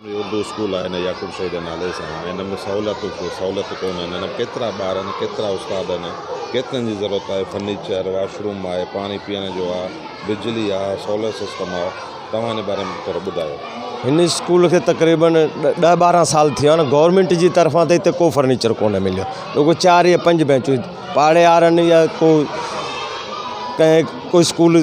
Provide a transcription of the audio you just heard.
هي Urdu school آهي نه يعقوب شاهي جي نالي سان آهي هن ۾ سهولتون ڪو سهولت ڪونه آهن هن ۾ ڪيترا ٻار آهن ڪيترا استاد آهن ڪيترن جي ضرورت آهي فرنيچر واش روم آهي پاڻي پيئڻ جو آهي بجلي آهي سولر سسٽم آهي توهان هن باري ۾ ٿورو ٻڌايو هن اسڪول کي تقريبن ڏهه ٻارهن سال ٿي ويا آهن گورنمينٽ جي طرفان ته هتي ڪو فرنيچر ڪونه مليو رڳو چار يا پنج بينچون پاڙيارن يا ڪو ڪنهن ڪو اسڪول